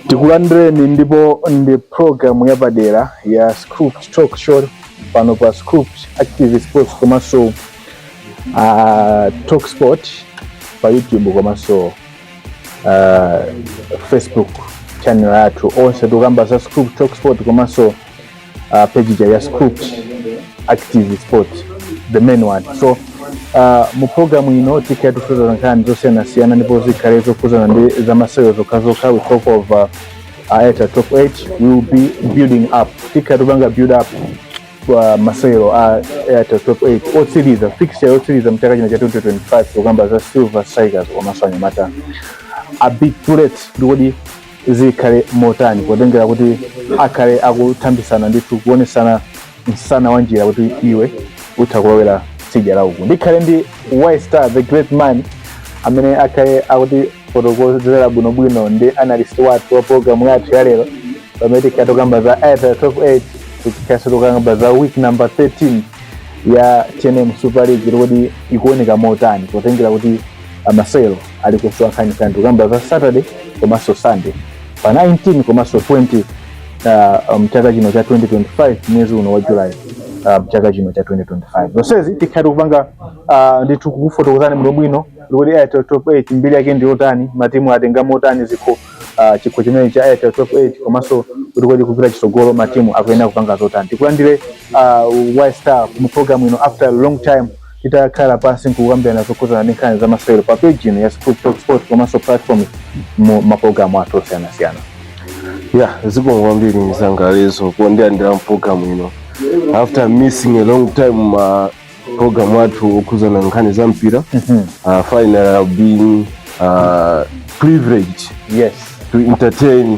tikulandireni ndipo ndi program yapadera ya Scoop talk show pano pa Scoop active sports komanso uh, talk sport pa youtube komanso uh, facebook channel yathu onse tikukamba za Scoop talk sport komanso uh, page ija ya scoop active sport the main one so uh, mu programu ino tikhala tikukhudza nkhani zosiyanasiyana ndipo zikhale zokhudzana ndi zamasewero zokhazokha we talk of uh, Airtel top 8 we will be building up tikhala tikupanga build up ya masewero a Airtel top 8 otsiriza fixture yotsiriza mchaka chino cha 2025 kukamba za silver strikers komanso anyamata a big bullets nde kodi zikhale motani potengera kuti akhale akuthambitsana ndithu kuonetsana msana wanjira kuti iwe utha kulowera tsidya la uku ndikhale ndi y star the great man amene akhale akutifotokozera bwinobwino ndi analyst wathu wa programu yathu ya lero pamene tikhale tokamba za airtel top 8 tikhalenso tokamba za week number 13 ya tnm super league kuti ikuoneka motani potengera kuti amasewero alikuswa nkhani kani tikukamba za Saturday komanso Sunday pa 19 komanso 20 uh, mchaka um, chino cha 2025 mwezi uno wa July uh, mchaka chino cha 2025 zonsezi tikhala tikupanga uh, ndithu kukufotokozani bwino bwino kuti Airtel Top 8 mbiri yake ndi yotani matimu atenga motani zikho uh, chikho chimene cha Airtel Top 8 komanso kuti kodi kupita chitsogolo matimu akuyenera kupanga zotani tikulandire uh, Y Star mu program ino after a long time titakhala pansi nkukambirana zokhudzana ndi nkhani za masewero pa page ino ya Scoop Talk Sport komanso platform mu mapulogalamu athu osiyanasiyana ya zikomo kwambiri m'sangalatso pondilandira mpulogalamu ino after missing a long time ma programu athu okhudzana nkhani za mpira uh, finally I've been uh, privileged yes to entertain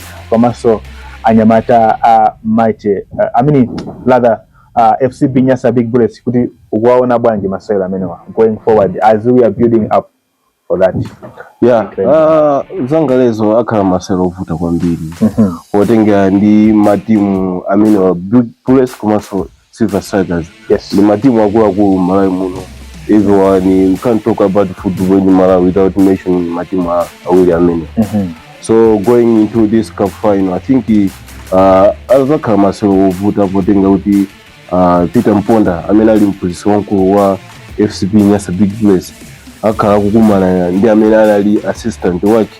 komanso anyamata a Mighty uh, I mean rather uh, FCB Nyasa Big Bullets kuti ukuwaona bwanji masewera amenewa going forward as we are building up for that yeah okay. uh, m'sangalatso akhala masewera ovuta kwambiri mm -hmm. potengera ndi matimu amenewa Bullets komanso Silver Strikers Yes. ndi matimu akuluakulu Malawi muno everyone we can't talk about football in Malawi without mentioning matimu a- awiri amene Mhm. so going into this cup final i think uh, azakhala masewero ovuta potengera kuti uh, peter mponda amene ali mphunzitsi wamkulu wa fcb nyasa big bullets akhala akukumana ndi amene anali assistant wake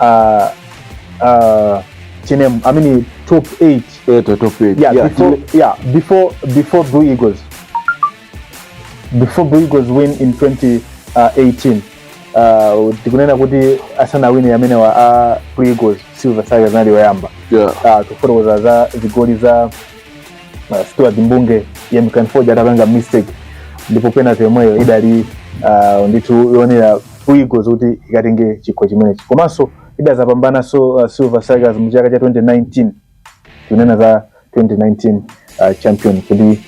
uh, uh, Chinem, I mean top eight. Yeah, the top eight. Yeah, yeah, before, yeah, before before Blue Eagles. Before Blue Eagles win in 2018. Uh, tikunena kuti asana wini amene wa a Blue Eagles Silver Tigers nali wayamba. Yeah. Uh, kufotokoza za zigoli za uh, Stuart Mbunge yemkanfoja atapanga mistake ndipo penalty yomweyo idali uh, ndithu yonera Blue Eagles kuti ikatenge chikho chimenechi komanso idazapambananso uh, Silver Strikers mu chaka cha 2019 kunena za 2019 uh, champion kuti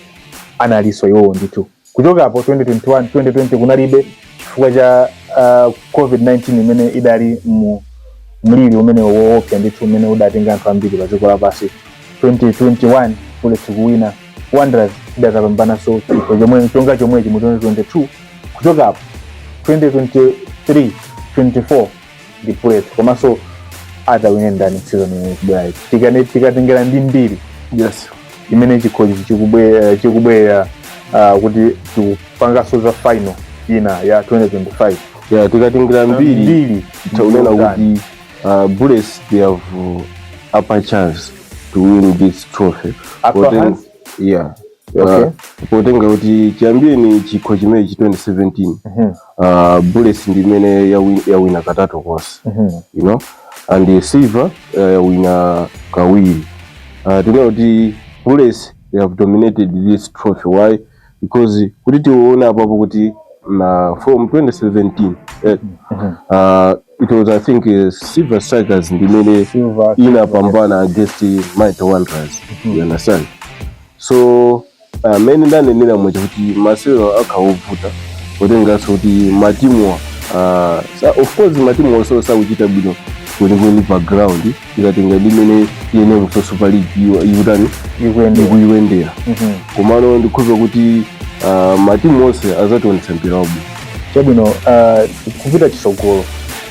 analinso iwowo ndithu kuchoka apo 2021 2020 kunalibe chifukwa cha uh, covid-19 imene idali mliri umene woopsa ndithu umene udatenga anthu ambiri pa dziko lapansi 2021 bullets kuwina Wanderers idazapambananso chikho chomwe chonga chomwechi mu 2022 kuchoka apo 2023 24 ndi Bullets komanso atawine ndani season imene ikubwerayi Tikane- tikatengera ndi mbiri yes imene chikhochi chikubwe- eh, chikubwera ah, kuti tikupangaso za final ina ya 2025 yeah, tikatengera mbiri mbiri taunena kuti Uh, Bullets they have uh, upper chance to win this trophy. Upper Poten- hand? Yeah. Okay. Uh, potenga kuti chiyambireni chikho chimene chi 2017 Mhm. uh, bullets ndi imene yawi- yawina katatu konse Mhm. you know and uh, silver uh, yawina kawiri uh, tinaona kuti bullets they have dominated this trophy why because kuti tiona apapo kuti na from 2017 eh, uh, it was i think uh, silver strikers ndimene Silver inapambana against mighty wanderers you understand so uh, mene ndanenera muja kuti masewero akhawovuta potenganso kuti matimu uh, sa- of course matimu onse sakuchita bwino kwenikweni pa ground tikatenga ndi mmene mu super league iwa- ikutani Ikuendera. ikuyendera Mhm. komano ndikhulupira kuti ah, matimu onse azationetsa mpira wabwino chabwino uh, kupita chisogolo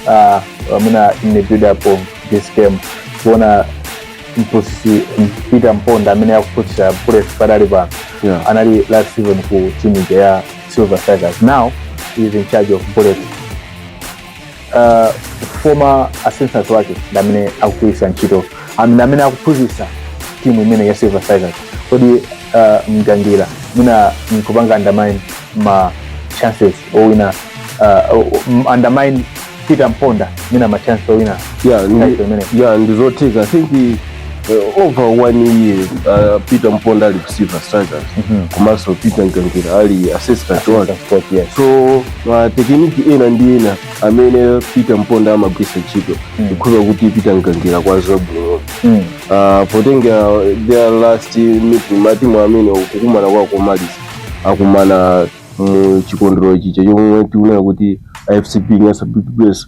uh, amuna in the build up of this game kuona mphunzitsi peter mponda amene akuphunzitsa bullets padali pano Yeah. anali last season ku timu ija ya silver strikers now he is in charge of bullets uh, former assistant wake ndi amene akugwiritsa ntchito am- ndi amene akuphunzitsa timu imene ya silver strikers kodi uh, mgangira mwina nkupanga undermine ma chances owina uh, o- m- undermine peter mponda mwina ma chances owina yeah, title ndi, imeneyi yeah, ndizotheka i think Uh, over one year uh, peter mponda ali ku silver strikers komanso peter mgangira ali assistant wake Coach, yes. so matekiniki ena ndi ena amene peter mponda amagwisa ntchito ndikhulupira kuti peter mgangira akuwadziwa bwino Mm. uh, potenga their last meeting matimu amene kukumana kwao komaliza akumana mu chikondwero chija chomwe tikunena kuti fcb nyasa big bullets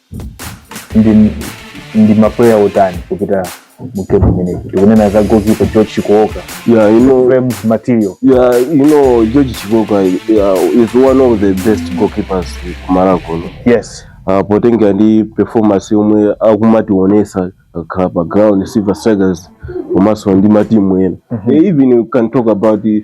ndi ndi mapuleya otani kupita mu game imeneyi tikunena za goalkeeper george chikooka yeah you know flames material yeah you know george chikooka ya, is one of the best goalkeepers ku Malawi kuno yes uh, potengera ndi performance yomwe akumatiwonesa akakhala pa ground silver strikers komanso ndi matimu ena mm -hmm. even we can talk about the,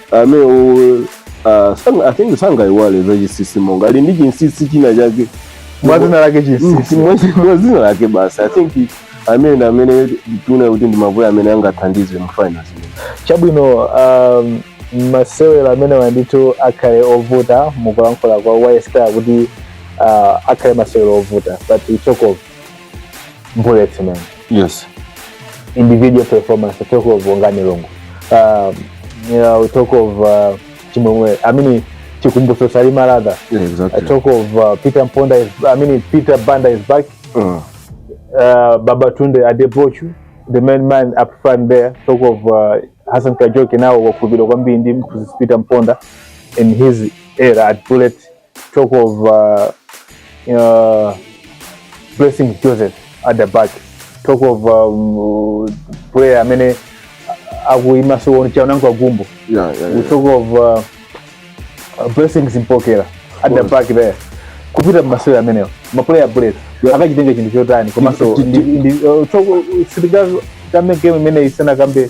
amenewo ah, sang- i think sangaiwale za Chisisi Maonga ali ndi chinsisi china chake mwazina lake chinsisi mwazina lake basi i think amene ndi amene tuona kuti ndi mapuleya amene angathandize mu finals chabwino um, masewero amenewa nditu akhale ovuta mukulankhula kwa ystar kuti uh, akhale masewero ovuta but we talk of bullets man yes individual performance I talk of wongani longo um, you know, we talk of uh, chimwemwe i mean chikumbuso salima rather yeah, i exactly talk of uh, peter mponda is, i mean peter banda is back uh, uh, Babatunde Adebochu, the main man up front there, talk of uh, Hassan Kajoki now wakubilo kwambi ndi mkuzi Peter Mponda in his era at Bullet talk of uh, uh, blessing joseph at the back talk of um, player amene akuima so chaunango agumbo Yeah, yeah, we yeah. talk of uh, uh, blessings mpokera at the course. back there kupita masewera amenewo maplayer bullet Yeah. akachitenga chinthu chotani komanso Ti- ti- ti- sitikambe game imene isanakambe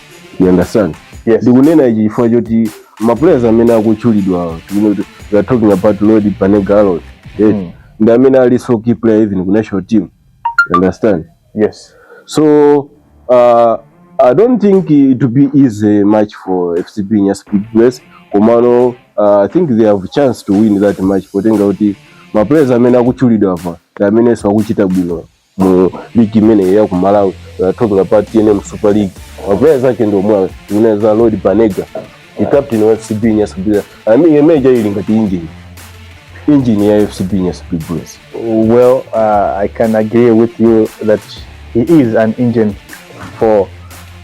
you understand Yes. ndikunena ichi chifukwa choti maplayers amene akutchulidwa we are talking about Lloyd Banega Aaron yes Mm. ndi amene alinso key player even ku national team you understand yes so uh, i don't think it will be easy match for fcb nyasa big bullets komano uh, i think they have chance to win that match potenga kuti maplayers amene akutchulidwa apa ndi amenenso akuchita bwino mu ligi imeneyo ya ku Malawi we are talking about TNM Super League mapuleya zake ndi omwewa Tikunena za Lloyd Banega ndi captain wa FCB Nyasa Big Bullets I mean uja ili ngati injini injini ya FCB Nyasa Big Bullets Well, uh, I can agree with you that he is an engine for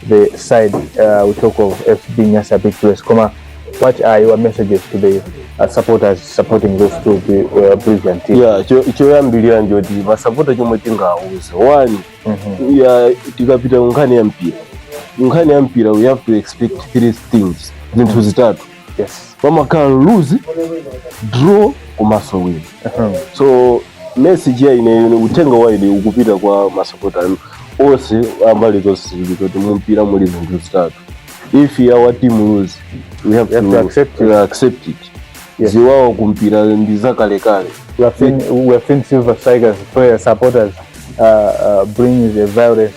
the side uh, we talk of FCB Nyasa Big Bullets. Koma, what are your messages to the uh, supporters supporting those two bi- uh, brilliant teams? yeah cho- choyambirira n'choti masapota chomwe tingawauze one Mhm. ya tikapita ku nkhani ya mpira nkhani ya mpira we have to expect three things zinthu zitatu yes pamakhala lose draw komanso win so message ya ine ine uthenga wa ine ukupita kwa masapota onse ambali zonse ziwiri kuti mumpira muli zinthu zitatu if our team lose we have, have to, to accept it. To accept it. Yes. ziwawa kumpira ndi zakalekale we have seen, we have seen silver strikers players supporters uh, uh, brings a violence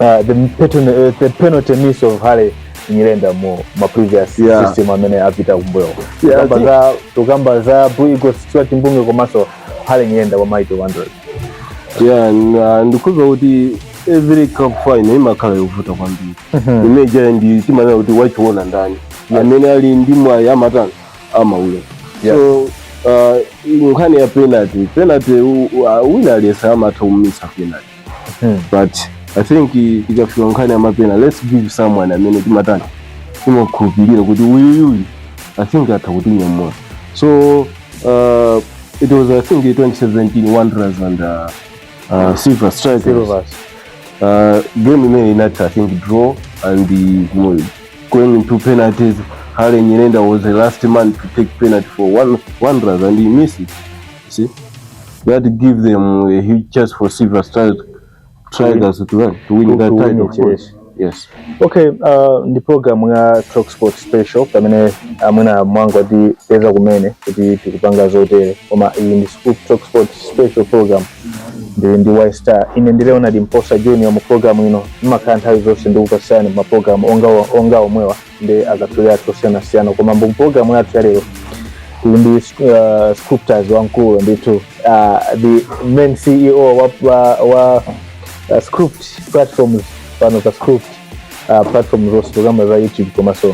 uh, the, pattern, uh, the penalty miss of Harry Nyirenda mu my previous yeah. system amene apita kumbuyo yeah, tukamba za tukamba za Blue Eagles Stuart Mbunge komanso Harry Nyirenda wa Mighty Wanderers yeah uh, ndikumva kuti every cup final imakhala yovuta kwambiri mhm. ija timanena kuti wachiona ndani amene ali ndi mwayi amatani amaule so uh, nkhani ya penalty penalty wina aliyense amatha kumisa penalty Hmm. but i think i- ikafika nkhani ya mapena let's give someone amene timatani timakhulupirira kuti uyuyuyu i think atha kutinyamula so uh, it was i think 2017 wanderers and uh, uh, silver strikers Silvers. uh, game imene inati i think draw and uh, mo- going into penalties hale nyirenda was the last man to take penalty for one, wanderers and he missed it See? That give them a huge chance for Silver Strikers to, to win, to win to, that to title. Win it, yes. Yes. Okay, uh, ndi program ya Talk Sport Special pamene amwene uh, mwangotipeza kumene kuti tikupanga zotere koma iyi ndi Talk Sport Special program ndili ndi Y Star ine ndi Leonard Mposa Junior mu program ino imakhala nthawi zonse ndikupatsani ma program onga onga omwewa ndi akatswiri athu osiyanasiyana koma mu programu yathu ya lero tili ndi uh, scriptures wamkulu ndithu uh, the main ceo wa, wa, wa uh, script platforms pano pa script uh, platforms zonse zokamba za youtube komanso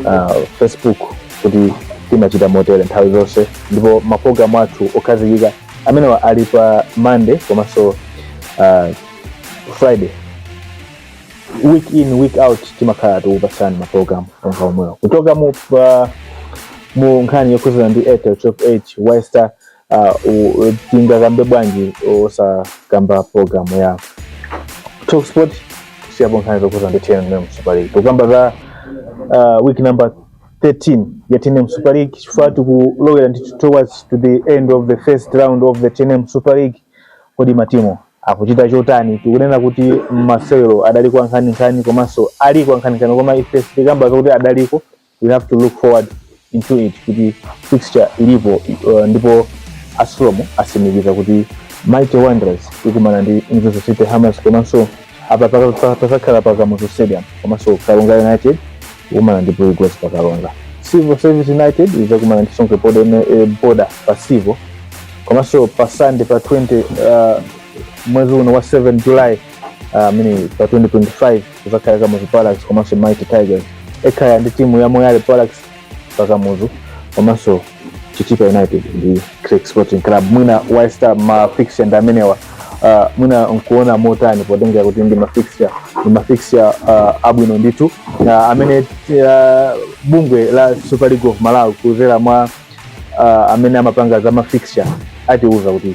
uh, facebook kuti timachita motere nthawi zonse ndipo maprogramu athu okhazikika amenewa ali pa monday komanso uh, friday week in week out timakhala tikupatsani maprogram onga omwewa kuchoka mu uh, mu nkhani yokhuzana ndi airtel top 8 wester uh, u- u- tingakambe bwanji osakamba program ya talk sport siyapo nkhani zokhuzana ndi tnm super league tukamba za uh, week number 13 ya tnm super league chifukwa tikulowera ndi towards to the end of the first round of the tnm super league kodi matimu akuchita chotani tikunena kuti masewero adaliko ankhaninkhani komanso aliko ankhaninkhani koma ife sitikamba zokuti adaliko we have to look forward into it kuti fixture ilipo uh, ndipo a sulom asimikiza kuti mighty wanderers ikumana ndi mzuzu city hammers komanso apa paka- paka- pazakhala pa kamuzu stadium komanso karonga united ikumana ndi Blue Eagles pa Karonga. Civil Service United izakumana ndi Songwe Border eh, Border pa Civil. Komanso pa Sunday pa 20 uh, mwezi uno wa 7 July uh, I mean pa 2025 kuzakhala Kamuzu Barracks komanso Mighty Tigers. Ekhaya ndi timu ya Moyale Barracks pa Kamuzu komanso Chitipa United ndi Creck Sporting Club. Mwina Waista ma fixture ndi amenewa uh, mwina nkuona motani potengera kuti ndi ma fixture ndi ma fixture uh, abwino ndithu uh, amene uh, bungwe la Super League of Malawi kudzera mwa uh, amene amapanga za ma fixture atiuza kuti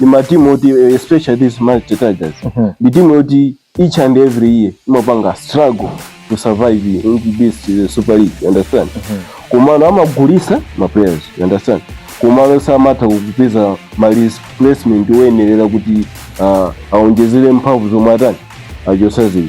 ndi matimu oti eh, especially this Mighty Tigers ndi timu yoti each and every year imapanga struggle to survive in this eh, Super League you understand komano amagulisa ma players you understand komano samatha kupeza ma replacement oyenerera kuti ah, aonjezere mphamvu zomwe atani achosa zija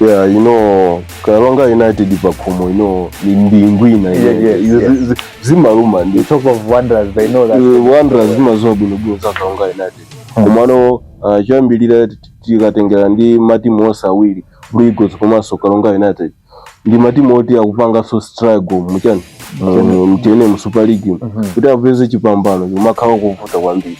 yeah you know karonga united pakhomo you know ndi ingwina Yeah, yeah, yeah, Izo yeah. zi- zi- zimaluma ndi You talk of wonders, they know that. Eh, wanderers zimaziwa bwinobwino za karonga united komano uh, choyambirira t- tikatengera ndi matimu onse awiri blue eagles komanso karonga united ndi matimu oti akupanganso struggle mu chani mu tnm super league kuti apeze chipambano kumakhala kovuta kwambiri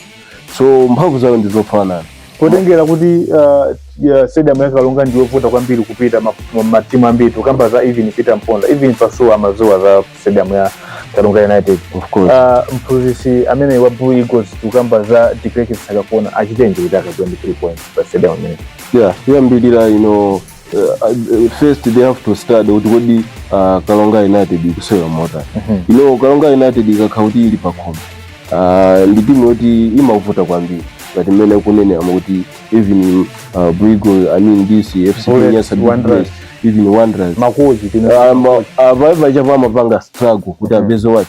so mphamvu zawo ndi zofanana potengera kuti uh, ya stadium ya karonga ndi yovuta kwambiri kupita ma- ma- matimu ambiri tukamba za even peter mponda even pasuwa amaziwa za stadium ya karonga united of course uh, mphunzitsi ameneyu wa blue eagles tukamba za deklerk msakakuona achitenji kuti akatole three points pa stadium imene yeah choyambirira you know uh, first they have to study kuti kodi uh, kalonga united ikusewera motani you know kalonga united ikakhala kuti ili pakhomo uh, ndi timu yoti imavuta kwambiri ngati mmene akunenera kuti even uh, Blue Eagles i mean this fc Bullets, nyasa Big Wanderers. Bullets, even wanderers makozi tino Um, akafika apa amapanga struggle kuti apeze wake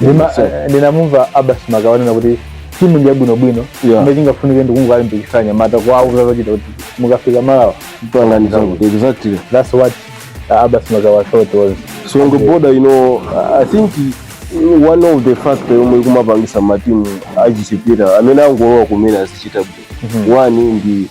Nima- So- eh, ndinamumva abas makawa akunena kuti timu ndi yabwinobwino Yeah. imene tingafunike ndikungolimbikitsa anyamata kwawo zazachita kuti mukafika malawa Pangani zangu. Exactly. that's what uh, abas makawa thought was So on the border, you know, I think one of the factor yomwe ikumapangisa matimu achichepere amene angolowa kumene azichita bwino. One ndi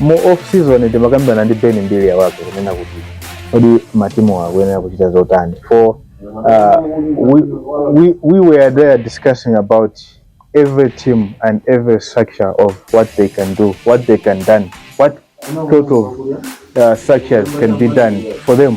Mu off season timakambirana ndi Ben Mbilia wake kunena kuti kodi matimu akuyenera kuchita zotani for uh, we, we, we were there discussing about every team and every structure of what they can do, what they can done, what sort of uh, structures can be done for them.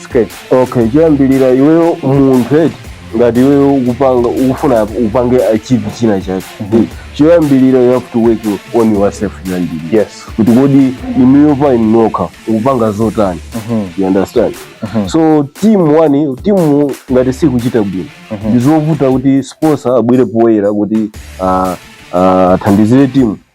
skate okay choyambirira iweyo munthu eti ngati iweyo ukupanga ukufuna upange achieve china chake choyambirira you have to work on yourself choyambirira yes kuti kodi inuyo pa inu nokha ukupanga zotani you understand so team one timu ngati sikuchita bwino ndizovuta kuti sponsor abwere poyera kuti ah, ah, athandizire timu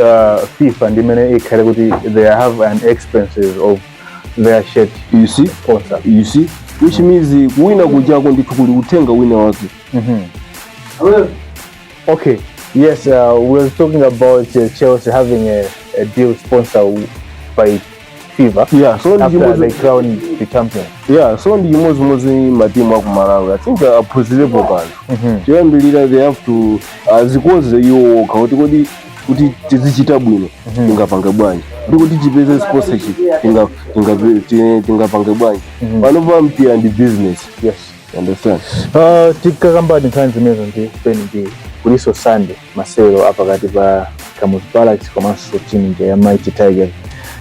uh, fifa ndi imene ikhale kuti they have an expenses of their shirt you see sponsor you see which means kuwina kujako ndithu kuli uthenga wina wake okay yes uh, we were talking about uh, chelsea having a, a deal sponsor by fever yeah so ndi after chimodzi they crown the champion yeah so ndi chimodzimodzi matimu aku malawi i think uh, aphunzirepo kanthu choyambirira they have to azikonzere iwo okha kuti kodi kuti tizichita bwino tingapange bwanji ndi kuti tipeze sponsorship tinga- tinga- ti- tingapange bwanji panopa mpira ndi business yes you understand Uh, tikakamba nkhani zimenezo ndi peni ndi kuliso sunday masewero apakati pa Kamuzu Barracks komanso timu ija ya Mighty Tigers.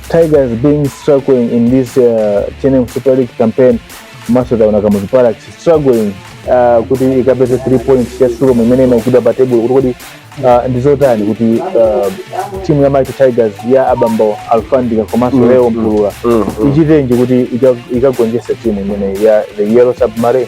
Tigers being struggling in this uh, TNM Super League campaign komanso taona Kamuzu Barracks struggling uh, kuti ikapeze 3 points ya Sulom imene imaikidwa pa table kuti kodi uh, ndi zotani kuti uh, timu ya Mighty Tigers ya abambo Alfandika komanso Leo Mpulula ichitenji kuti ika- ikagonjese timu imene ya the Yellow Submarine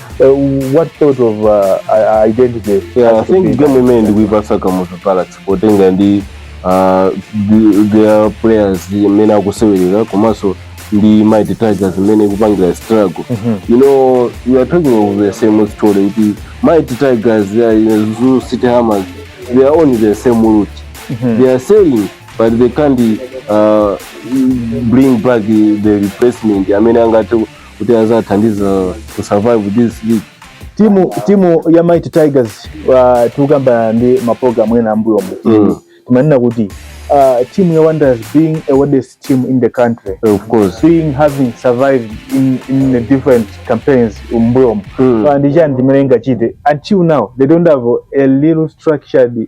Uh, what sort of uh, i- identity? Yeah, I has to think be game done? imene ndikuipasa kamutu palace potenga ndi uh, the- their players imene akusewerera komanso ndi mighty tigers imene ikupangira struggle you know you are talking of the same story kuti mighty tigers they are in Zoo city hammers they are on the same route they are selling but they can't uh, bring back the replacement amene angathe kuti azathandiza to survive this league timu timu ya Mighty Tigers uh, tikukamba ndi maprogramu ena ambuyo mbuyo mm. timanena kuti uh, team ya Wanderers being a oldest team in the country of course being having survived in in the different campaigns m'mbuyomo mm. so ndi chani chimene ingachite until now they don't have a little structured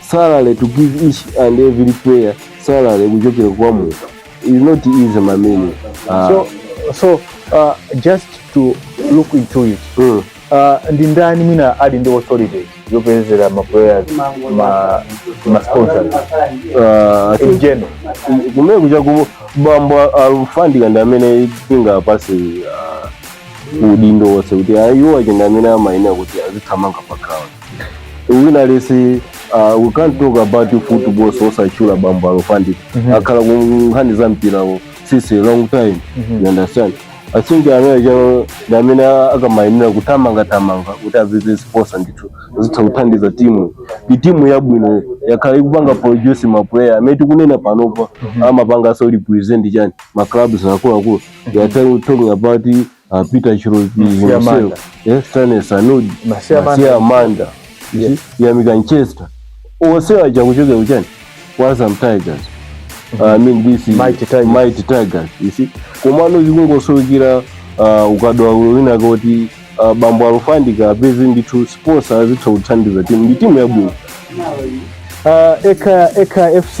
salary to give each and every player salary kuchokera kwa munthu is not easy my man Ah, so so uh, just to look into it mm. uh, ndi ndani mwina ali ndi authority yopezera ma players ma ma sponsors Ah, in general kumene kucha ku bambo alufandika ndi amene tingapatse ah, udindo wonse kuti ayiwo achenda amene amayenera kuti azithamanga pa ground wina aliyense uh, we can't talk about football osatchula bambo Alufandika Mhm. akhala ku nkhani za mpira since a long time Mhm. you understand i think ameneyo ndi amene akamayimira kuthamanga thamanga kuti apeze sponsor ndithu zitha kuthandiza timu ndi timu yabwino yakhala ikupanga produce ma player amene tikunena panopa amapanganso represent chani ma clubs akuluakulu we are talking about uh, Peter Cholopi Masiya himself, Manda. eh, Stanley Sanudi, Masiya Manda. Masiya Manda, you Yes. see, Yamikani Chester. Onse aja kuchokera kuchani kwa Azam Tigers. Uh, I mean this is Mighty Tigers. Mighty Tigers, you see. Komano chikungosowekera uh, ukadaulo wina kuti uh, bambo alufandika apeze ndithu sponsor azitha kuthandiza timu ndi timu yabwino Uh, Ekhaya FC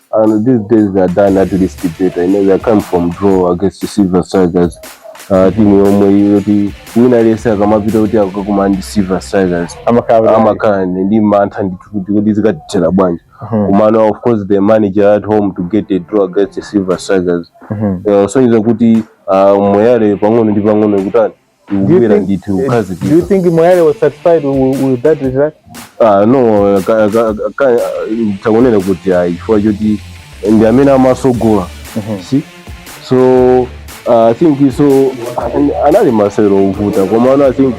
I think these days they have done at least better. You know, they come from draw against the Silver Strikers. Uh, timu yomwe yoti wina aliyese akamapita kuti akakumane ndi Silver Strikers amakhala amakhala ndi mantha ndi kuti kuti zikatithera bwanji komano of course they managed at home to get a draw against the Silver Strikers Eh, kusonyeza kuti ah, moyale pang'ono ndi pang'ono ikutani Ubwera think- ndithu eh, kazi Do you think Moyale was satisfied with, with that result? Ah, no ka- ka- ka- tikunena kuti ayi chifukwa choti ndi amene amatsogola see so ah, i think so anali masewero ovuta komano i think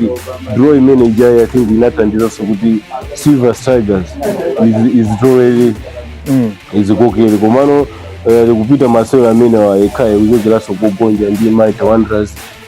draw imene ijayi i think inathandizanso kuti silver strikers iz- izitolere izikokere komano eh, ikupita masewero amene ekhaya ikuchokeranso kogonja ndi mighty wanderers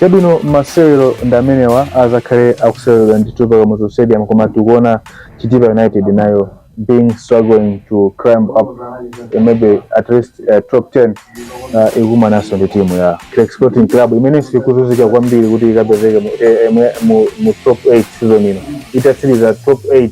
Chabwino, masewero ndi amenewa adzakhale akuseweredwa ndithu pa Kamuzu Stadium koma tikuona Chitipa United nayo being struggling to climb up eh, maybe at least eh, top 10 uh, ikumananso ndi timu ya Creck Sporting Club imene sikuvutika kwambiri kuti ikapezeke mu, eh, eh, mu, mu, mu top 8 season ino itatsiriza top 8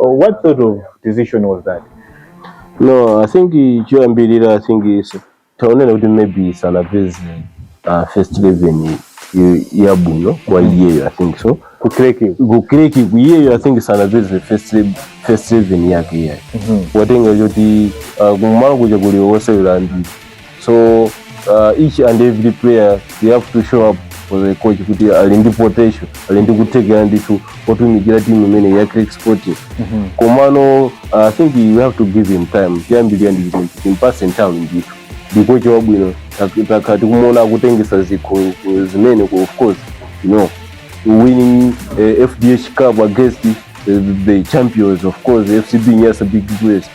Oh, what sort of decision was that? No, I think eh, choyambirira I think tinganene kuti maybe sanapeze uh, first 11 eh, yabwino kwa iyeyo I think so Kukreki. kukreki iyeyo I think sanapeze first elev- first 11 yake iyeyo watenga choti uh, kumalo kuja kuli osewera ndi so uh, each and every player they have to show up for the coach kuti ali ndi potential ali ndi kuthekera ndithu otumikira timu imene ya creck sporting komano uh, i think you have to give him time choyambirira ndi chimenecho timpatse nthawi ndithu ndi coach wabwino Tak- takhala tikumuona akutengetsa zikho ku- zimene ku- of course you know winning uh, fdh cup against uh, the champions of course fcb nyasa big bullets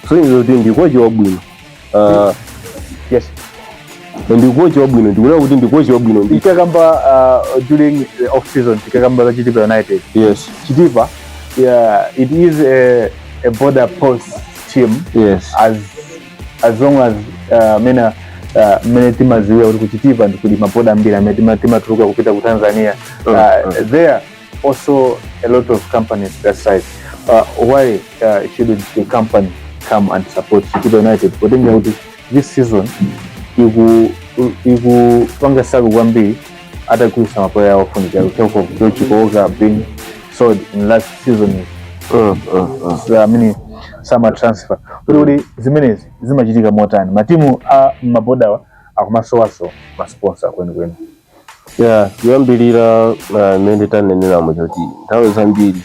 so zikusonyeza kuti ndi coach wabwino Ah, yes ndi kochi wabwino ndikunena kuti ndi kochi wabwino ndi tikakamba uh, during the off season tikakamba za chitipa united yes chitipa yeah, it is a, a border post team yes as as long as uh, mena uh, mene timadziwira kuti kuchitipa ndi kuli maboda ambiri amene tima- timatuluka kupita ku tanzania uh, there also a lot of companies that side uh, why uh, shouldn't the company come and support Chitipa United potenga kuti this season iku ikupanga struggle kwambiri atagulitsa mapuleya awo ofunika talk of George Koga being sold in last season uh, uh, uh. So, I mean, summer transfer kuti kodi zimenezi zimachitika motani matimu a mabodawa akumasowanso masponsa kwenikweni ya kuyambirira uh, mmene tanenera mwachoti nthawi zambiri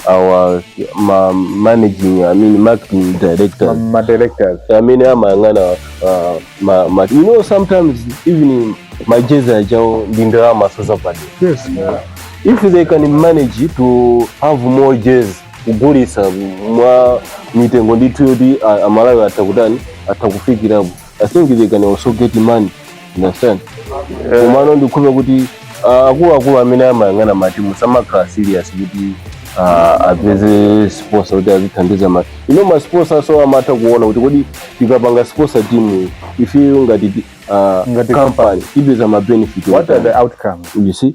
awa ma managing I mean marketing director ma directors I mean amayang'ana uh, ma, ma, you know sometimes even majezi achawo ndi ndalama sozapadera yes yeah. if they can manage to have more jerseys kugulitsa mwa mitengo ndithu yoti amalawi atha kutani atha kufikirapo i think they can also get money you understand Eh. komano ndikhulupira kuti ah, akuluakulu amene amayang'ana matimu samakhala serious kuti ah, apeze sponsor kuti azithandiza ma you know ma sponsorso amatha kuona kuti kodi tikapanga sponsor team ife ngati ti- ah, Ngati company ipeza ma benefit otani. what are the outcomes you see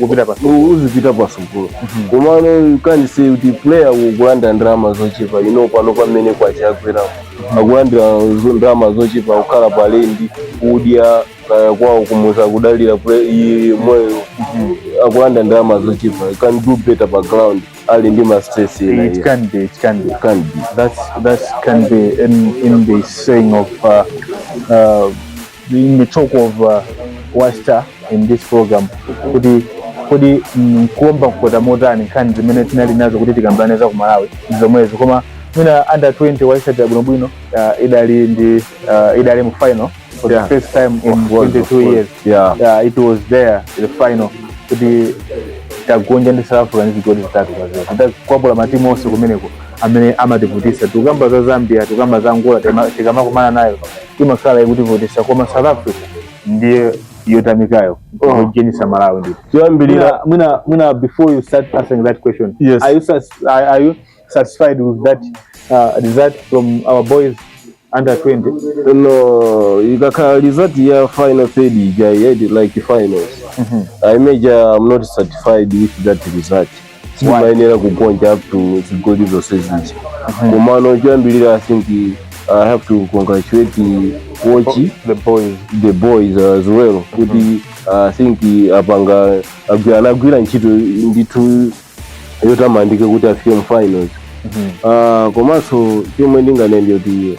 kupita pa uzipita pa sukulu mhm. komano you can't say kuti player akulandira ndalama zochepa you know pano mmene kwacha yakwera mhm. akulandira ndalama zochepa kukhala pa lendi kudya kaya kwawo kumudzi akudalira iweyo mhm. akulandira ndalama zochepa he can do better pa ground ali ndi ma stress ena it can't be it can't be it can't be that's that's can be in in the saying of uh, uh, in the talk of uh, wasta in this program kuti kodi nkuomba mkota motani nkhani zimene tinali nazo kuti tikambirane za ku malawi ndi zomwezo koma mwina under 20 waisatira bwinobwino uh, idali ndi uh, idali mu finals for Yeah. the first time in Of course, 22 of course. years Yeah. yeah, it was there the final kuti tagonja ndi south africa ndi zigoli zitatu kwa zero tidakwapula matimu onse kumeneko amene amativutisa tikukamba za zambia tikukamba za angola tikama- tikamakumana nayo imakhala ikutivutisa koma south africa ndiye yotamikayo Oh. jenisa malawi ndito choyambirira Mwina- mwina mwina before you start answering that question Yes. are you sats- are, are you satisfied with that uh, result from our boys under 20 no ikakhala result ya final third ija yet like finals i major i'm not satisfied with that result sitimayenera kugonja up to zigoli zonse zija komano choyambirira i think i have to congratulate watch the boys the boys as well kuti i think apanga agwi- anagwira ntchito ndithu yotamandika kuti afike mu finals Ah, komanso chomwe ndinganene ndi choti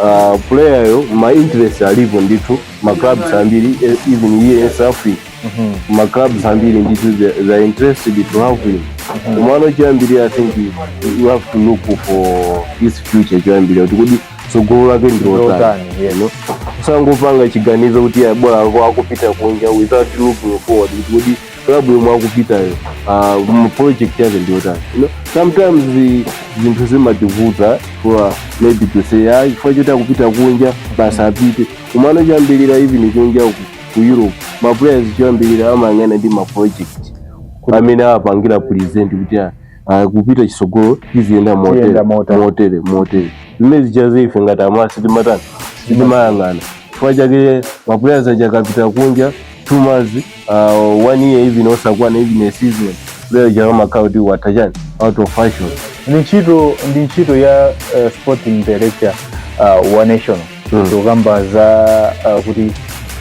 uh, player yo ma interest alipo ndithu ma clubs ambiri eh, even here in South Africa ma clubs ambiri ndithu they- they are interested to have him komano choyambirira i think you have to look for his future choyambirira kuti kodi tsogolo lake ndilotani Ndilotani, yes. asangopanga chiganizo kuti ah bola akupita kunja without looking forward kuti kodi club yomwe akupitayo uh, mu project yake ndiyotani you know? sometimes zi- zinthu zimativuta for maybe to say ah chifukwa choti akupita kunja basi apite komano choyambirira even kunja ku, ku europe ma players choyambirira amayang'ana ndi ma project amene awapangira present kuti ah, uh, kupita chisogolo ziziyenda motere motere motere zimene zichaze ife ngati amala sitimatani sitimayang'ana chifukwa chake ma players aja akapita kunja two months uh, one year even osakwana even a season player uja amakhala kuti watha chani out of fashion ndi ntchito ndi ntchito ya uh, sporting director uh, wa national mm. zokamba za uh, kuti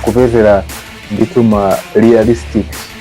kupezera ndithu ma realistic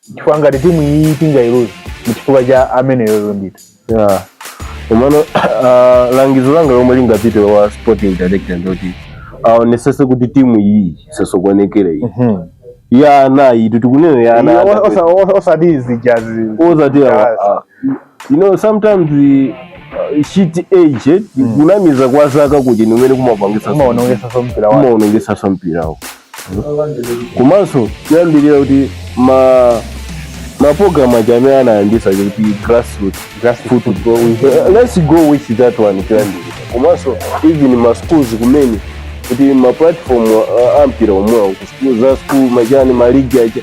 chifukwa ngati timu iyi tingailuza mchifukwa cha ameneyoyo ndithu Yeah. Komano uh, langizo langa lomwe lingapite kwa sporting director ndoti aonesese kuti timu iyi isasokonekere iyi ya ana iyi tikunena ya ana iyi osati zijazi osati awa- Yes. a- you know sometimes uh, cheat age eh, mm. kunamiza kwa zaka kuti ndi kumene kumapangisa kumaonongesa so mpira wao kumaonongesaso mpira wao komanso kulimbikira kuti maprogramu aja amene anayambisa kuti grassroot football eh, let's go with that one kulimbikira komanso even ma schools kumene kuti ma platform uh, a mpira omwewo ku school za school machani ma league aja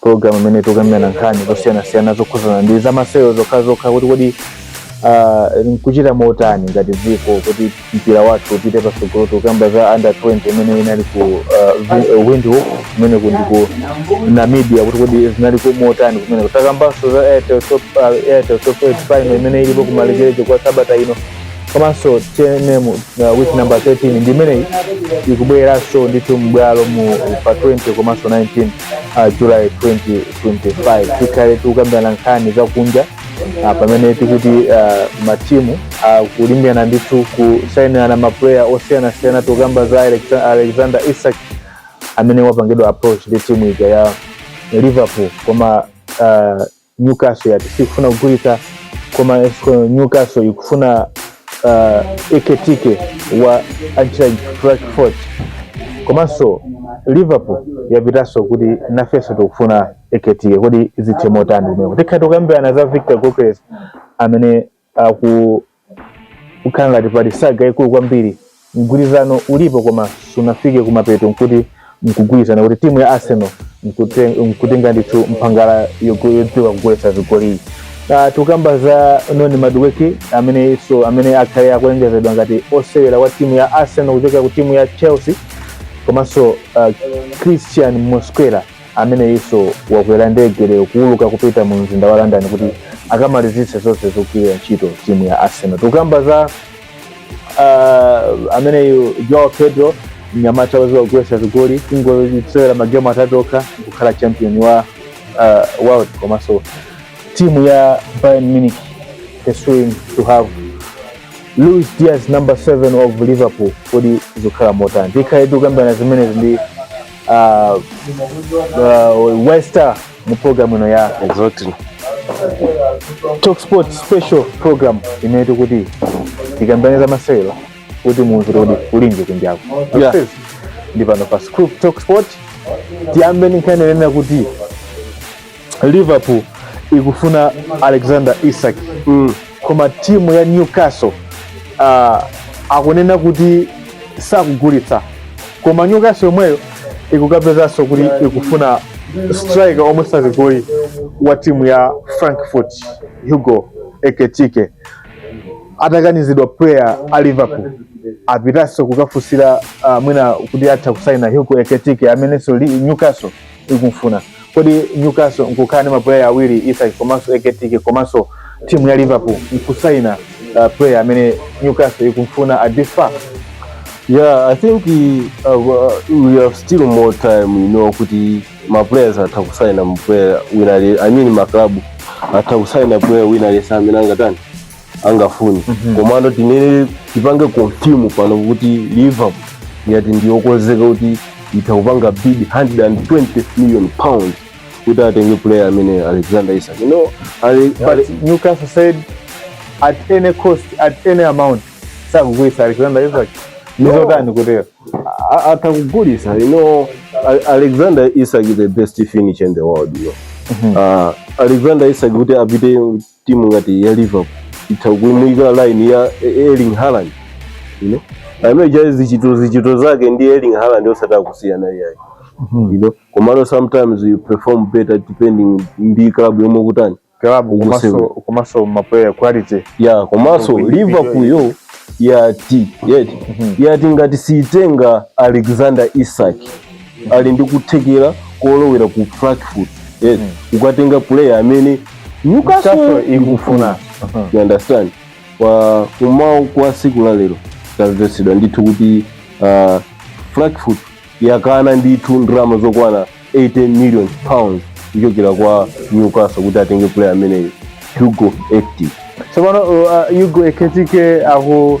program imene tikukambirana nkhani zosiyanasiyana zokhudzana ndi zamasewero zokhazokha kuti kodi ah, nkuchita motani ngati dziko kuti mpira wathu upite patsogolo tikukamba za under 20 imene inali ku ah, Vi- eh, windhoek imene ku ndiku namibia kuti kodi zinaliko motani kumene takambanso za airtel top ah, airtel top 8 final imene ilipo kumalekezero kwa sabata ino komanso tnm uh, week number 13 ndi imeneyi ikubweranso ndithu m'bwalomu pa 20 komanso 19 uh, July 2025 tikhale tikukambirana nkhani za kunja uh, pamene tikuti uh, matimu uh, akulimbirana ndithu kusainirana mapuleya osiyanasiyana tikukamba za Alexa- alexander isak amene wapangidwa approach ndi timu ija ya liverpool koma uh, Newcastle yati sikufuna kugulitsa koma Newcastle ikufuna uh, Ekitike wa Eintracht Frankfurt komanso Liverpool yapitanso kuti nafenso tikufuna Ekitike. Kodi zithe motani kumeko? Tikhala tikukambirana za Victor Gyokeres amene akukhala ngati pali saga yaikulu kwambiri mgwirizano ulipo koma sunafike kumapeto nkuti nkugwirizana kuti timu ya arsenal nkutenga ndithu mphangala yodziwa kugolesa zigoliyi Uh, ah, tikamba za noni madueke ameneyinso amene akhale akulengezedwa ngati osewera wa timu ya arsenal kuchokera ku timu ya chelsea komanso uh, cristhian mosquera ameneyinso wakwera ndege lero kuuluka kupita mu mzinda wa london kuti akamalizitse zonse zogwirira ntchito timu ya arsenal tikamba za uh, ameneyu joao pedro mnyamata wodziwa kugoletsa zigoli kungosewera magemu atatu okha kukhala champion wa uh, world komanso timu ya bayern munich pursuing to have luis diaz number 7 of liverpool kodi zikhala motani tikhale tikukambirana zimenezi ndi uh, uh, Wester mu program ino ya exactly Talk Sport special program imene tikuti tikambirane za masewero kuti munthu kuti ulinje kunjako Yeah. ndi pano pa Scoop Talk Sport tiyambe ndi nkhani yonena kuti liverpool ikufuna alexander isak mm. koma timu ya newcastle uh, akunena kuti sakugulitsa koma newcastle yomweyo ikukapezanso kuti ikufuna striker omwetsa zigoli wa timu ya frankfurt hugo ekitike atakanizidwa player a liverpool apitanso kukafunsira uh, mwina kuti atha kusaina hugo ekitike amenenso li- newcastle ikumfuna kodi newcastle nkukhala ndi mapuleya awiri isak komanso ekitike komanso timu ya liverpool nkusaina uh, player amene newcastle ikumfuna at this far Yeah, I think we, uh, uh, we have still more time, you know, kuti ma players atha kusaina player wina ali, I mean ma club atha kusaina player wina aliyense amene angatani. angafune Mhm. komano tinene tipange confirm pano kuti liverpool yati ndiyokonzeka kuti itha kupanga bid 120 million pound kuti atenge player amene alexander isak you know ali pali Newcastle said at any cost at any amount sakugulisa Alexander Isak No. ndizotani kutero a- atha kugulisa you know A- alexander isak is the best finisher in the world you know. uh, alexander isak kuti apite timu ngati ya liverpool itha kuimuyika line ya erling haaland you know amene cha zichito zichito zake ndi erling haaland osati kusiyana iyayi you know komano sometimes you perform better depending ndi club yomwe kutani klabu ukusewera. komanso maplayer quality yeah komanso liverpool iyo yo yati yati ngati siitenga alexander isak ali ndi kuthekera kolowera ku frankfurt yes mm. ukatenga player amene newcastle ikufuna mm-hmm. you understand kummawa kwa siku la lero tamvetsedwa ndithu kuti uh, frankfurt yakana ndithu ndalama zokwana 80 million pounds kuchokera kwa newcastle kuti atenge player ameneyo hugo ekitike tsopano so, uh, uh, hugo ekitike aho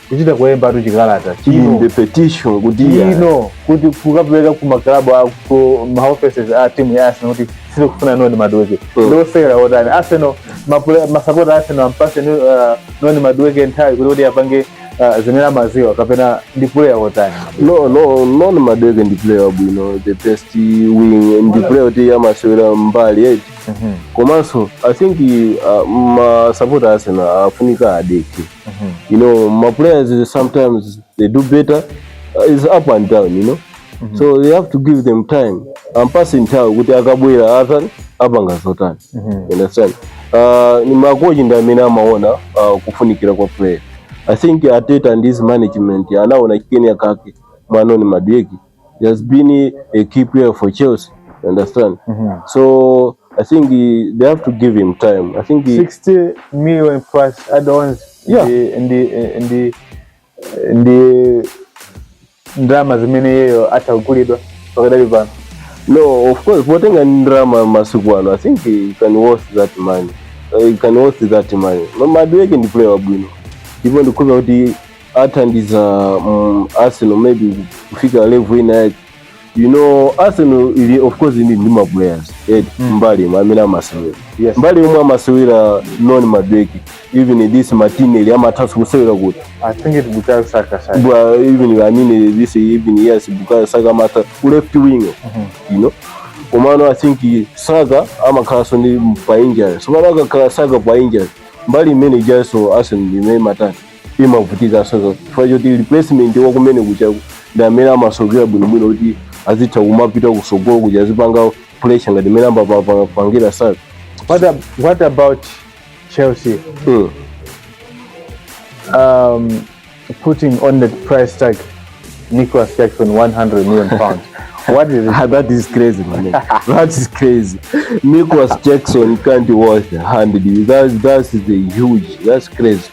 kuchita kulembatu chikalata chino the petition kuti chino kuti kukapeleka ku maklabu a ku ma offices a timu ya Arsenal kuti sikufuna noni madueke Mm. ndi osewera otani Arsenal mapule- masapota a Arsenal ampase ni- uh, noni madueke nthawi kuti kuti apange uh, zimene amaziwa kapena ndi player otani no no noni madueke ndi player wabwino the best wing ndi player kuti amasewera mbali eti komanso i think uh, masapota a Arsenal afunika adekhe mm -hmm. you know maplayers sometimes they do better uh, it's up and down you know mm -hmm. so they have to give them time ampase time kuti akabwera atani apanga zotani mm -hmm. understand uh, ni makochi ndi amene amaona uh, kufunikira kwa player i think arteta and his management anaona chinachake mwa noni madueke He has been a key player for Chelsea. You understand? Mm -hmm. So I think he, they have to give him time. I think he, 60 million plus add-ons. Yeah. In the in the in the drama zimene yeyo atagulidwa pakadali pano. No, of course, potenga drama masiku ano. I think he can worth that money. Uh, he can worth that money. Mama Adweke ndi player wabwino. Ndipo ndikuza kuti athandiza mm, arsenal maybe kufika level ina yake you know arsenal ili of course ili ndi maplayers eti mbali mwa amene amasewera Yes. mbali yomwe amasewera noni madueke even this martinelli amathanso kusewera kuti I think it Bukayo Saka side. but even I mean this even yes Bukayo Saka mata ku left wing you know komano I think Saka amakhalaso ndi pa injury so mara akakhala Saka pa injury mbali imene ijaso Arsenal imene matatu imavutikanso chifukwa choti replacement wa kumene kuja ndi amene amasowekera bwinobwino kuti azitha kumapita kusogolo kuja azipanga pressure ngati mmene amapangira saka What, ab- what about Chelsea mm. um, putting on the price tag Nicholas Jackson 100 million pounds? what is it? Ah, that is crazy man that is crazy Nicholas Jackson can't be worth 100 that's, that's the huge that's crazy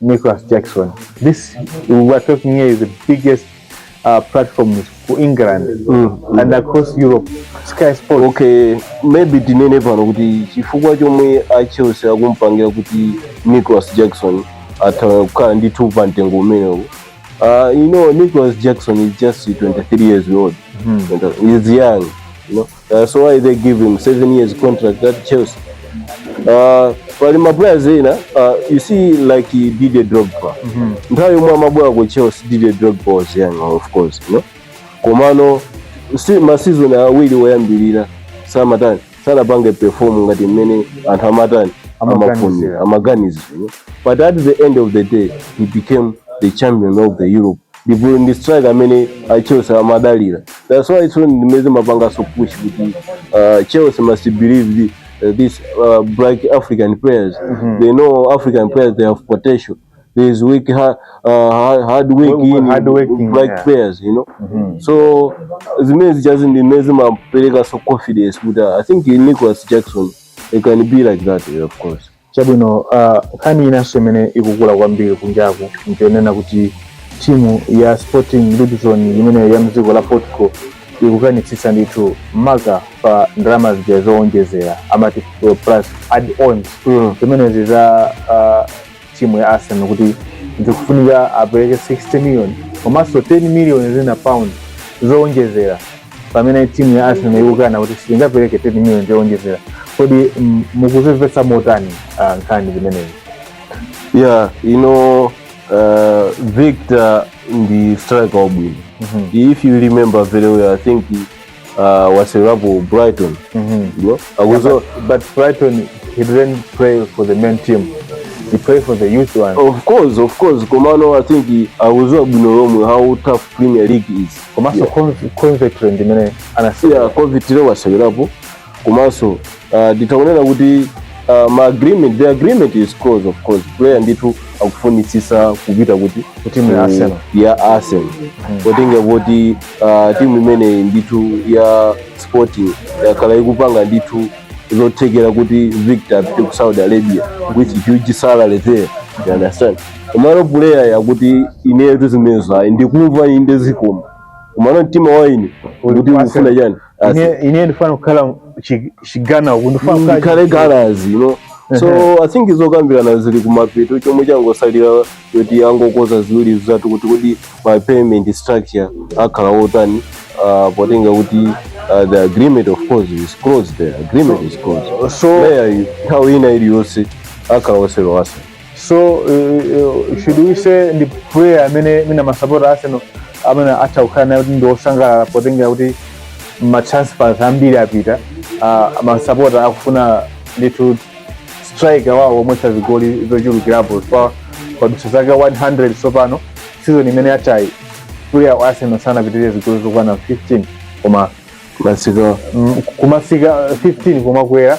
Nicholas Jackson. This we are talking here is the biggest uh, platform for England mm. and across Europe. Sky Sports. Okay, maybe tinene pano kuti chifukwa chomwe a Chelsea akumpangira kuti Nicholas Jackson athawa kukhala ndi two pa mtengo umenewu. Uh, you know, Nicholas Jackson is just 23 years old. Mm. He's young, you know. That's why they give him seven years contract at Chelsea. Uh, pali maplayers ena uh, you see like Didier Drogba mm -hmm. nthawi yomwe amabwera ku Chelsea Didier Drogba was young of course you know? komano si masizoni awiri woyambirira samatani sanapange perform ngati mmene anthu amatani amafunira amaganizo you know? but at the end of the day he became the champion of the Europe ndipo ndi strike amene a Chelsea amadalira that's why so ndimeze mapanga so push kuti uh, Chelsea must believe the, uh, this uh, black African players mm -hmm. they know African players they have potential there is weak ha, uh, hard work in hard working, black yeah. players you know mm -hmm. so zimene zichazi ndimene zimapereka so confidence kuti I think Nicholas Jackson it can be like that of course Chabwino, a nkhani inanso imene ikukula kwambiri kunjaku njonena kuti timu ya Sporting Lisbon imeneyo ya mdziko la Portugal ikukanitsitsa ndithu maka pa ndalama zija zowonjezera amati plus add ons Mm. zimenezi za ah, timu ya Arsenal kuti zikufunika apereke 60 million komanso 10 million zina pound zowonjezera pamene timu ya Arsenal ikukana kuti sitingapereke 10 million yoonjezera kodi mm, mukuzimvetsa motani ah, nkhani zimenezi yeah you know uh, victor ndi striker wabwino Mhm. if you remember very well i think uh, waseweelapo brighton Mhm. you know? but Brighton he didn't play for the main team he played for the youth one of course of course komano i think akuziwa bwino lomwe how tough premier league is komanso Yeah. Conv- Coventry ndi imene anasiya yeah coventry wasewerapo komanso uh, titha kunena kuti uh, ma agreement the agreement is close of course player ndithu akufunitsisa kupita kuti Ku timu ya ku- Arsenal. ya arsenal potenga kuti uh, timu imeneyi ndithu ya sporting yakhala ikupanga ndithu zothekera kuti victor apite ku saudi arabia with huge salary there you understand Komano puleyayo akuti inetu zimenezo ayi ndikumva inde zikoma. Komano mtima wa ine Uli kuti ku Arsenal. ukufuna chani? Arsenal. Ine- ine ndifuna kukhala chi- chigana uku ndifuna kukhala Ndikhale chi- gunners you know. So I think zokambirana zili kumapeto chomwe changosalira kuti angokonza ziwiri zitatu kuti kodi ma payment structure akhala otani uh, potenga kuti uh, the agreement of course is closed the agreement is closed so Player yu, nthawi ina iliyonse akhala osewera wa Arsenal so uh, uh, should we say ndi player amene mwina masapota arsenal amene atha kukhala naye kuti ndi osangalala potengera kuti matransfers ambiri apita uh, masapota akufuna ndithu striker wawo omwetsa zigoli zochulukirapo kwa padutsa zaka 100 tsopano season imene yathayi player wa arsenal sanapitirire zigoli zokwana 15 koma masika mm, kumasika 15 kumakwera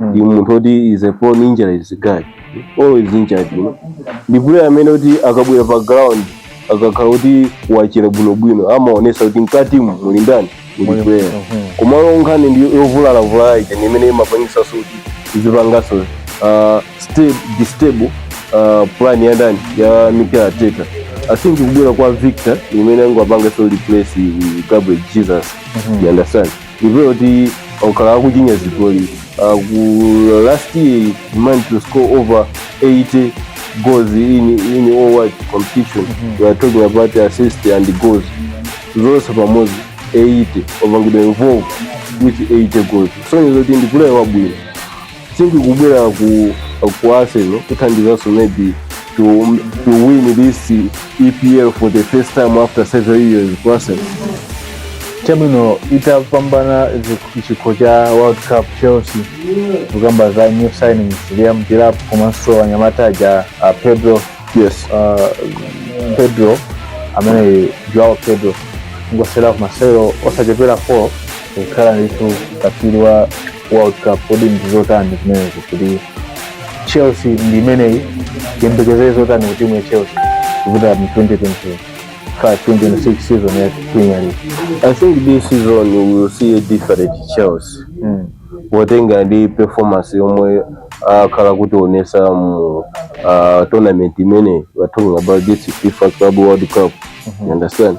ndi munthu oti is a prone injuries guy always injured you know ndi player amene kuti akabwera pa ground akakhala kuti wachira bwinobwino amaonesa kuti mkatimu muli ndani muli player komano nkhani ndi yovulalavula ija ndi imene imapangisa kuti izipangaso uh, stable, distable uh, plan ya ndani ya Mikel Arteta I think kubwera kwa Victor ndi imene angapanga so replace Gabriel Jesus you understand ndi player woti wakhala akuchinya zigoli uh, ku last year managed to score over 80 goals in, in all world competition we are talking about assist and goals zonse pamodzi 80 wapangidwa involve with 80 goals so ndizoti ndi player wabwino think kubwera ku ku Arsenal kuthandizanso maybe to to win this EPL for the first time after several years ku Arsenal timu ina itapambana chi- chikho cha world cup chelsea kukamba za new signings liam delap komanso mnyamata uja a pedro yes uh, pedro amene joao pedro wangosewera masewero osachepera 4 kukhala ndithu katswiri wa World Cup, kodi ndi zotani zimenezo kuti Chelsea ndi imeneyi tiyembekezere zotani ku timu ya Chelsea kupita mu 2025 2026 season ya Premier League? I think this season we will see a different Chelsea. Mm. Potenga ndi performance yomwe akhala kutionesa mu uh, tournament imeneyi we're talking about this FIFA Club World Cup. You understand?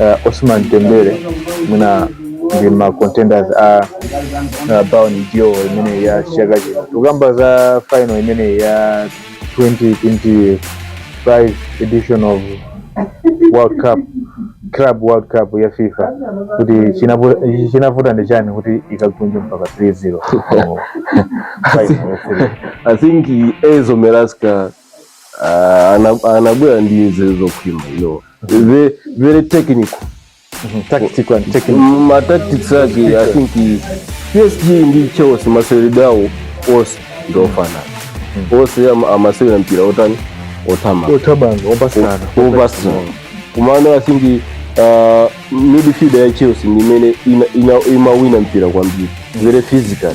uh, Ousmane Dembele mwina ndi ma contenders a uh, Ballon d'Or imeneyi ya chaka chino tukamba za final imeneyi ya 2025 edition of World Cup Club World Cup ya FIFA kuti chinapu- chinavuta ndi chani kuti ikagonje mpaka 3-0 mu final ya Serie A. I think Enzo Maresca Ah, ana- anabwera ndi nzeru zokhwima you know. Ve- very technical tactical and technical Mm, ma tactics ake i think i- psg ndi chelsea maseweredwe awo onse ndiofanana onse ama- amasewera mpira otani otama othamanga opatsana opatsa komano i think ah, midfield ya chelsea ndi imene ina- ina- imawina mpira kwambiri very physical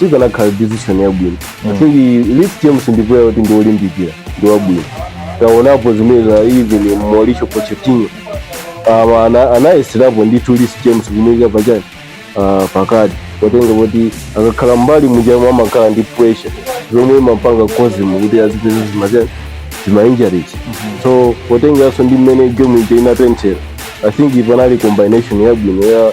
inakhala decision yabwino i think Reece james ndi player woti ndi olimbikira ndi wabwino taonapo zimene za even mauricio pochettino um, ana- anayeserapo ndithu Reece james kumuyika pachani uh, pakati potenga kuti akakhala mbali mujamu amakhala ndi pressure zomwe imapanga kozimu kuti azipeze zimachani zimainjuries so potenganso ndi mmene game ija inatenthera i think panali combination yabwino ya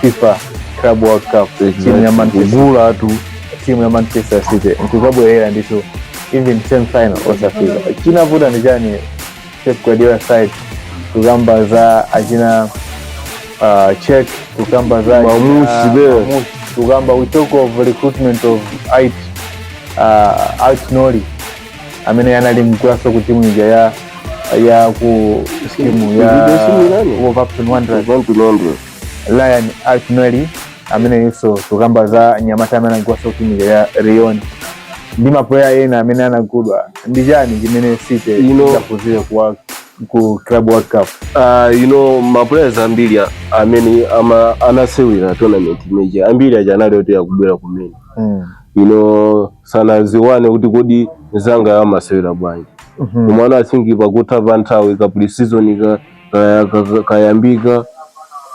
FIFA Club World Cup timu ya Manchester kugula tu timu ya Manchester City nkuzabwerera ndithu even same final osafika chinavuta ndi chani Pep Guardiola side kukamba za achina uh, check kukamba za Mamushi achina- there. Mamushi. kukamba we talk of recruitment of IT uh, Alt Noli amene anali mgulaso ku timu ija ya ya ku timu ya Wolverhampton Wanderers Rayan Ait-Nouri ameneso tukamba za nyamata amene anagulaso ku timu ija ya Lyon ndi mapuleya ena amene anagudwa ndi chani chimene City idaphunzira ku ku club world cup Ah, you know maplayers ambiri a- amene ama- anasewera tournament imeneyi ambiri aja anali oti akubwera kumene mm. you know sanaziwane kuti kodi mzangayo amasewera bwanji Mhm. komano i think pakutha pa nthawi ka pre-season ka- ka- ka- ka- kayambika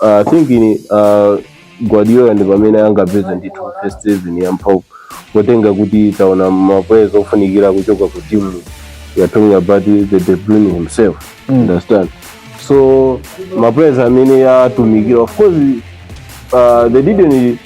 Ah, i think ni, ah, guardiola ndi pamene angapeza ndithu first season ya mphamvu potenga kuti taona maplayers ofunikira kuchoka ku timu we are talking about the De Bruyne himself Mm. understand so maplayers amene atumikira of course uh, they didn't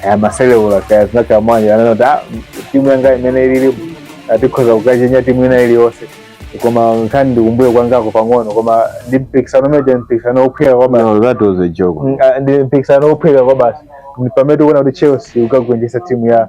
kaya amaseleula kaya zinakhala bwanji ananena kuti "Ah, timu yanga imene ililipo tikhoza kukachenya timu ina iliyonse koma nkhani ndikumbuye kwangako pang'ono koma ndi mpikisano umene ndi mpikisano wophweka kwabasi No, that was a joke. Mm, ah, ndi mpikisano wophweka kwabasi Ndi pamene tikuona kuti chelsea ukagonjetsa timu ya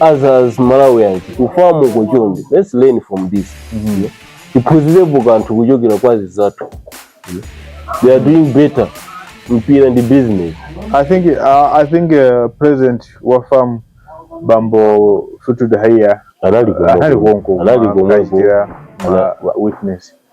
as as malawians ku FAM uko chonde let's learn from this Mhm. tiphunzirepo kanthu kuchokera kwa azinzathu they are doing better mpira ndi business I think uh, I think uh, president wa FAM Bambo Fleetwood Haiya anali anali konko konko anali konko akachitira Ana- ma- witness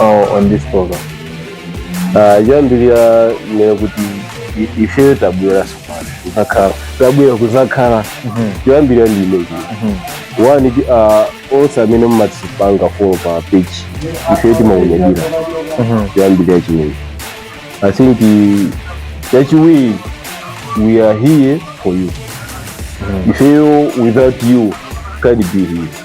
uh, on this program uh, choyambirira ndinene kuti i- ifeyo tabwera sopano kuzakhala tabwera kuzakhala choyambirira ndi chimenechi one ti- uh, onse amene mumatipanga follow pa page ifeyo timaunyadira choyambirira chimenechi i think uh, chachiwiri we are here for you ifeyo without you can't be here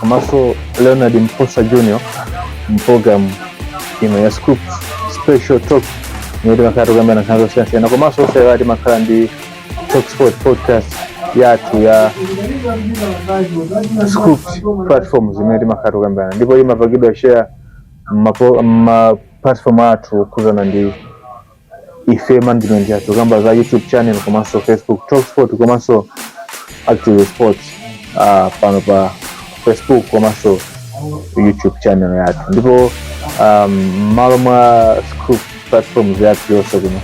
komanso leonard mposa junior mpulogalamu ino ya scoop special talk imene timakhala tikukambirana nkhani zosiyanasiyana komanso osaiwala timakhala ndi talk sport podcast yathu ya scoop platform zimene timakhala tikukambirana ndipo imapangidwa share mma platform athu okhudzana ndi ife management yathu tikukamba za youtube channel komanso facebook talk sport komanso active sports ah, pano pa facebook komanso youtube channel yathu ndipo um, mmalo mwa scoop platforms yathu yonse kuno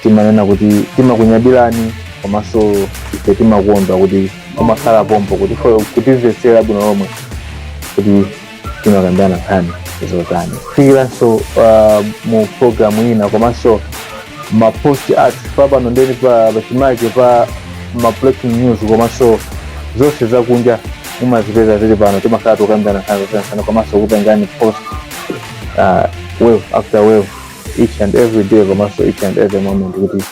timanena kuti timakunyadilani komanso ife timakondwa kuti mumakhala pompo kuti fo- kutimvetsera bwino lomwe kuti timakambirana nkhani zotani kufikiranso uh, mu programu ina komanso mapost athu pompano ndiye ndi pa pachimake pa ma breaking news komanso zonse zakunja mumazipeza zili pano timakhala tikukambirana nkhani zosiyanasiyana komanso kupangirani post uh, wave after wave each and every day komanso each and every moment kuti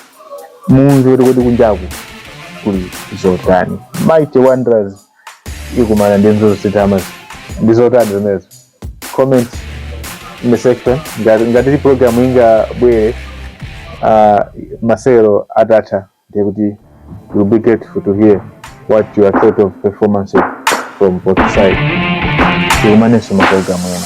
mudziwe kuti kunjaku kuli zotani mighty Wanderers ikumana ndi Nzozozitama ndi zotani zimenezo comment in the section ngati program ingabwere uh, masewero atatha ndi kuti we'll be grateful to hear what your thought of performances from both sides tikumanenso maprogramu ena